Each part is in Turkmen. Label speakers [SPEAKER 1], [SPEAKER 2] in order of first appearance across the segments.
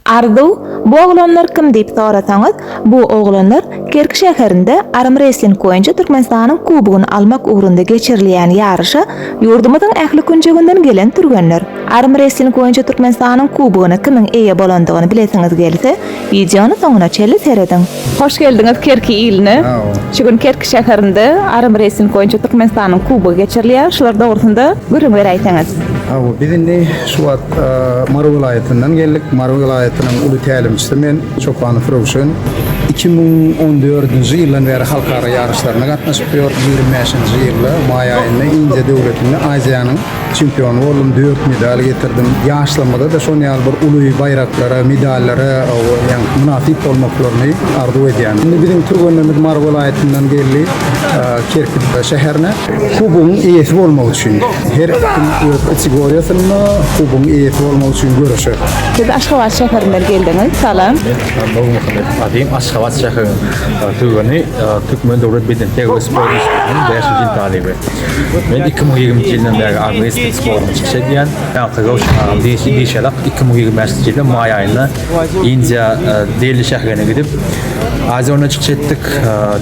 [SPEAKER 1] Arzuw, Bu oglanlar kim diýip sorasaňyz, bu oglanlar Kerki şäherinde armresling boýunça Türkmenistanyň kubogyny almak ugrunda geçirilýän ýaryşa ýurdumyzyň ähli künjeginden gelen türgenler. Armresling boýunça Türkmenistanyň kubogyna kimiň eýe bolandygyny bilesiňiz gelse, wideony soňuna çenli serediň. Hoş geldiňiz Kerki iline. Şu gün Kerki şäherinde Arm Racing boýunça Türkmenistanyň Kubogy geçirilýär. Şular dogrusynda gürrüň beräýseňiz. Hawa, biz indi
[SPEAKER 2] şu wagt Mary welaýatyndan geldik. Mary welaýatynyň uly tälimçisi men, Çopanow Röwşen. Iki müň on dördünji ýyldan bäri halkara ýaryşlaryna gatnaşyp ýör. Ýigrimi bäşinji ýylda maý aýynda Indiýa döwletinde Aziýanyň Çempion boldum, dört medal getirdim. Ýaşlarymyza-da şon ýaly bir uly baýraklara, medallara ýa-ni mynasyp bolmaklaryny arzuw edýän. Indi biziň türgenlerimiz Mary welaýatyndan geldi, Kerki şäherine. Kubogyň eýesi bolmak üçin. Her kim öz kategoriýasynda kubogyň eýesi bolmak üçin göreşer. Siz Aşgabat
[SPEAKER 1] şäherinden geldiňiz. Salam. Men Nurmuhammet
[SPEAKER 3] adym. Aşgabat şäheriniň türgeni. Türkmen döwlet bedenterbiýe sport institutynyň bäşinji ýyl talyby. Men iki müň ýigrimiji ýyldan bäri Agrestik sporunda çykyş edýän. Ýaňky Röwşen agam diýşi diýşelak iki müň ýigrimenjinji ýylyň maý aýynda Indiýa Deli şäherine gidip, Aziýa oýnunda çykyş etdik.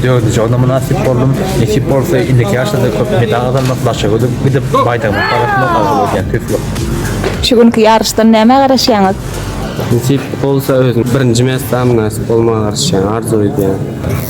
[SPEAKER 3] Dördünji orna mynasyp boldum. Nesip bolsa, indiki ýaryşlarda köp medal gazanmak, daşa gidip baýdyrmak babatynda arzuw edýän. Tüýs ýok. Şu günki
[SPEAKER 1] ýaryşdan nämä garaşýaňyz? Nesip
[SPEAKER 4] bolsa, özüme birinji medala mynasyp bolmagy garaşýan, arzuw edýän.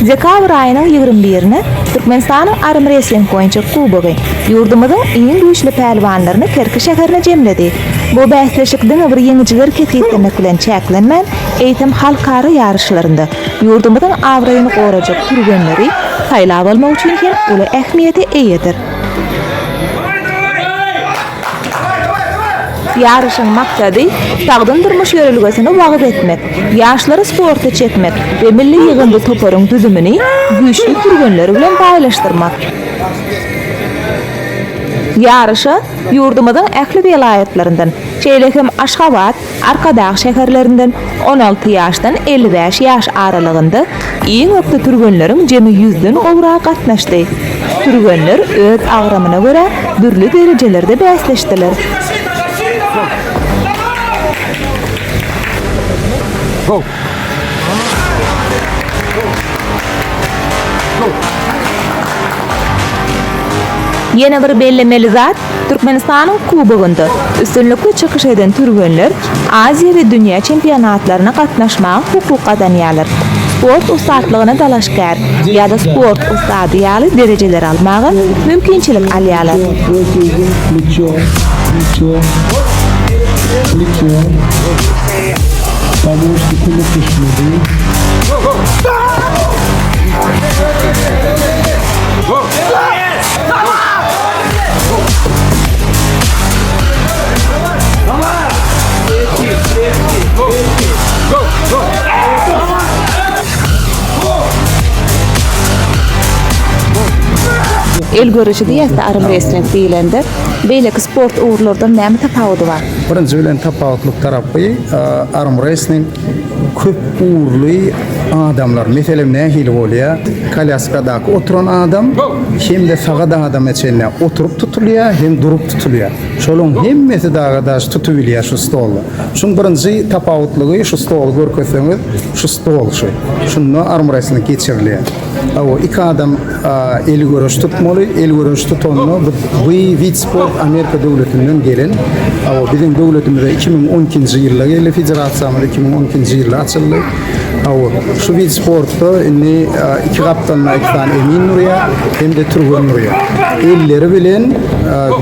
[SPEAKER 1] Dekabr aýynyň ýigrimi birine Türkmenistanyň armrestling boýunça kubogy ýurdumyzyň iň güýçli pälwanlaryny Kerki şäherine jemledi. Bu bäsleşik diňe bir ýeňijileri kesgitlemek bilen çäklenmän, eýsem halkara ýaryşlarynda ýurdumyzyň abraýyny gorajak türgenleri saýlap almak üçin hem uly ähmiýete eýedir. Ýaryşyň maksady, sagdyn durmuş ýörelgesini wagyz etmek, ýaşlary sporta çekmek we milli ýygyndy toparyň düzümini güýçli türgenler bilen baýlaşdyrmak. Ýaryşa ýurdumyzyň ähli welaýatlaryndan, şeýle hem Aşgabat, Arkadag şäherlerinden on alty ýaşdan elli bäş ýaş aralygynda iň ökde türgenleriň jemi ýüzden gowragy gatnaşdy. Türgenler öz agramyna görä dürli derejelerde bäsleşdiler. Ýene bir bellemeli zat, Türkmenistanyň Kubogynda üstünlikli çykyş eden türgenler Aziýa we dünýä çempionatlaryna gatnaşmaga hukuk gazanýarlar. Sport ussatlygyna dalaşgär ýa-da sport ussady ýaly derejeleri almaga mümkinçilik alýarlar. El görüşi diýäs-de arm wrestling diýlende, beýleki sport ugurlardan näme tapawudy bar? Birinji bilen tapawutlyk
[SPEAKER 2] tarapy, arm wrestling Köp ugurly adamlar, meselem nähili bolýar? Kolýaskadaky oturan adam hem-de sagat adama çenli oturyp tutulýar, hem durup tutulýar. Şolaryň hemmesi dagy daş tutubilýär şu stolda. Şuň birinji tapawutlygy şu stoly görkezseňiz, şu stol şu. Şunda armrestling geçirilýär. Awa, iki adam el göreş tutmaly. El göreş tutanlar bu bu wid sport Amerika döwletinden gelen. Awa, biziň döwletimize 2012-nji ýylda geldi federasiýamyz 2012-nji ýylda açyldy. Awa, şu wid sportda indi iki gapdalynda iki sany emin durýar, hem-de türgen durýar. Elleri bilen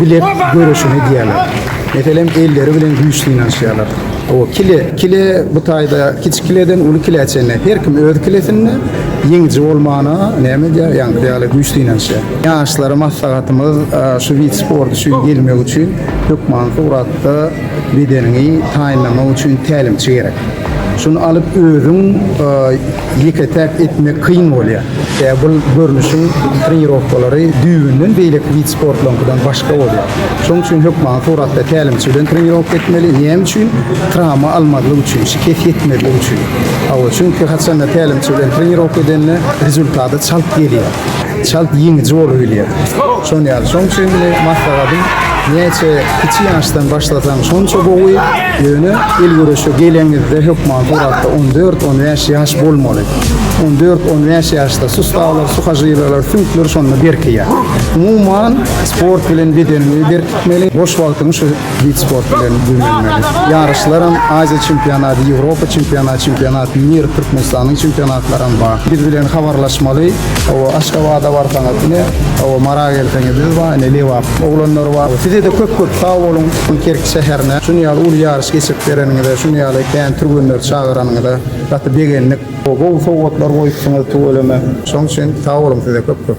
[SPEAKER 2] bilek göreşini edýärler. Meselem, elleri bilen güýç synanyşýarlar. Awa, kile, kile bu taýda kiçi kileden uly kile çenli. Her kim öz kilesinde. Ýeňiji bolmana näme edýär? Ýaňky ýaly güýç synanyşýar. Ýaşlara maslahatymyz, şu wid sport üçin gelmek üçin hökman suratda bedeniňi taýynlamak üçin tälimçi gerek. Şuny alyp özüň ýeke-täk etmek kyn bolýar. Sebäbi bul görnüşiň trenirowkalary düýbünden beýleki wid sportlaryňkydan başga bolýar. Şonuň üçin hökman suratda tälimçi bilen trenirowka etmeli. Näme üçin? Trawma almazlyk üçin, şikes ýetmezlik üçin. Hawa, çünki haçanda tälimçi bilen trenirowka edende rezultaty çalt gelýär. Çalt ýeňiji bolubilýär. Şonuň ýaly. Şonuň üçin meni maslahatym näçe kiçi ýaşdan başlasaň şonça gowy. Ýöne el göreşe geleňizde hökman suratda 14-15 ýaş bolmaly. 14-15 ýaşda sustalar, suhažileler, süňkler şonda berkeýär. Umuman sport bilen bedeniňi berkitmeli. Boş wagtyňy şu wid sport bilen güýmenmeli. Ýaryşlaram, Aziýa çempionaty, Ýewropa çempionaty, Çempionat Mir, Türkmenistanyň çempionatlaram bar. Biz bilen habarlaşmaly. Hawa, Aşgabada barsaňyz, ine, hawa, Mara gelseňiz biz bar, ine, Lebap oglanlary bar. Size-de köp-köp sag boluň, bu Kerki şäherine şuny ýaly uly ýaryş geçirip bereniňize, şuny ýaly kän türgenleri çagyranyňyza gaty begendik. Gowy gowy sowgatlar goýupsyňyz tüweleme. Şoň üçin sag boluň size köp köp.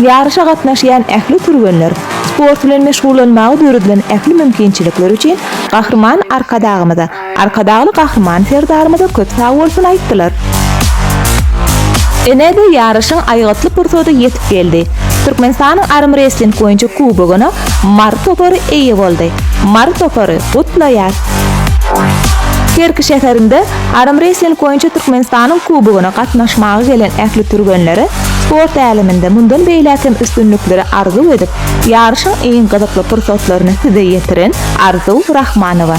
[SPEAKER 1] Ýaryşa gatnaşýan ähli türgenler sport bilen meşgullanmaga döredilen ähli mümkinçilikler üçin Gahryman Arkadagymyza, Arkadagly Gahryman Serdarymyza köp sag bolsun aýtdylar. Ine-de ýaryşyň aýgytly pursady ýetip geldi. Türkmenistanyň armrestling boýunça kubogyna Mary topary eýe boldy. Mary topary, gutlaýas! Kerki şäherinde Armwrestling boýunça Türkmenistanyň Kubogyna gatnaşmaga gelen ähli türgenlere sport äleminde mundan beýläk hem üstünlikleri arzuw edip, ýaryşyň iň gyzykly pursatlaryny size ýetiren Arzuw Rahmanowa.